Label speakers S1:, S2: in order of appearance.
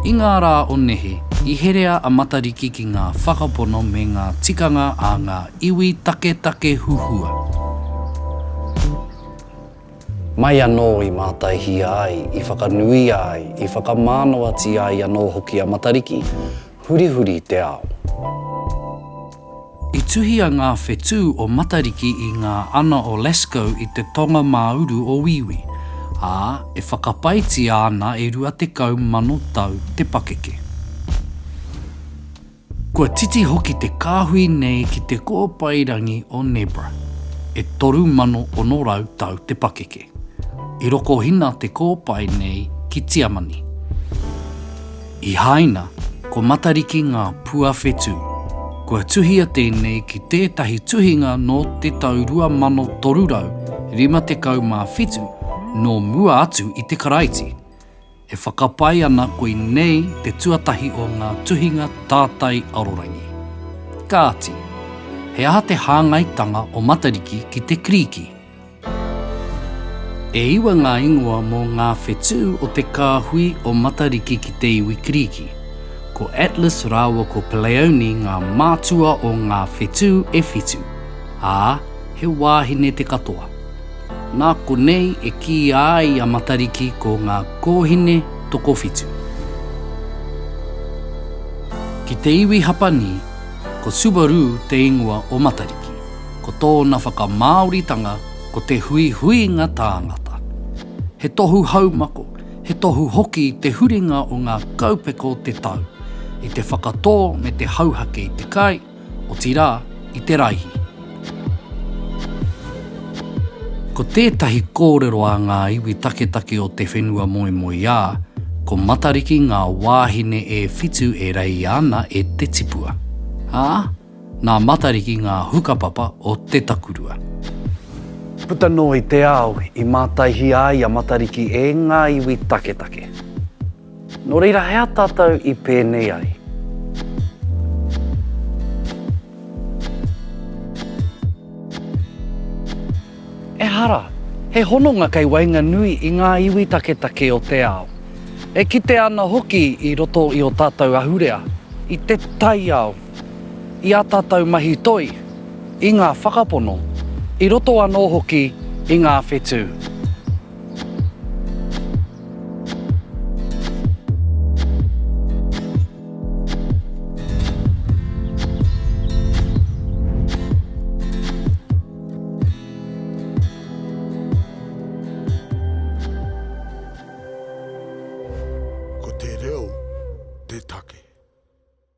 S1: I ngā rā o nehe, i herea a Matariki ki ngā whakapono me ngā tikanga a ngā iwi taketake huhua. Mai anō i mātaihia ai, i whakanuia ai, i whakamānawatia ai anō hoki a Matariki, hurihuri te ao. I tuhia ngā whetū o Matariki i ngā ana o Lascaux i te tonga mā uru o Wīwī, ā, e whakapaetia ana e 20,000 tau te pakeke. Kua titi hoki te kāhui nei ki te kōpairangi o Nebra, e 3,600 tau te pakeke. I rokohina te kōpae nei ki Tiamani. I Haina, ko Matariki ngā pua whetū. Kua tuhia tēnei ki tētahi tuhinga nō te tau 2357 nō mua atu i te Karaiti. E whakapae ana koinei te tuatahi o ngā tuhinga tātai arorangi. Kāti, he aha te hāngaitanga o Matariki ki te Kirīki? E iwa ngā ingoa mō ngā whetū o te kāhui o Matariki ki te iwi Kirīki. Ko Atlas rāua ko Pleione ngā mātua o ngā whetū e whitu, ā, he wāhine te katoa. Nā konei e kīia ai a Matariki ko ngā kōhine tokowhitu. Ki te iwi Hapani, ko Subaru te ingoa o Matariki. ko tōna whakamāoritanga ko te huihuinga tāngata. He tohu haumako, he tohu hoki te huringa o ngā kaupeka o te tau, i te whakatō me te hauhake i te kai, otirā, i te raihi. Ko tētahi kōrero a ngā iwi taketake o te whenua moemoeā, ko Matariki ngā wāhine e whitu e reia ana e te tipua, ā, Nā Matariki ngā hukapapa o te takurua. Puta noa i te ao, i mātaihia ai a Matariki e ngā iwi taketake. Nō reira he aha tātou i pēnei ai? Ehara, he hononga kei waenganui i ngā iwi taketake o te ao. E kitea ana hoki i roto i ō tātou ahurea, i te taiao. i ā tātou mahi toi, i ngā whakapono, i roto anō hoki i ngā whetū. Ko te reo te take.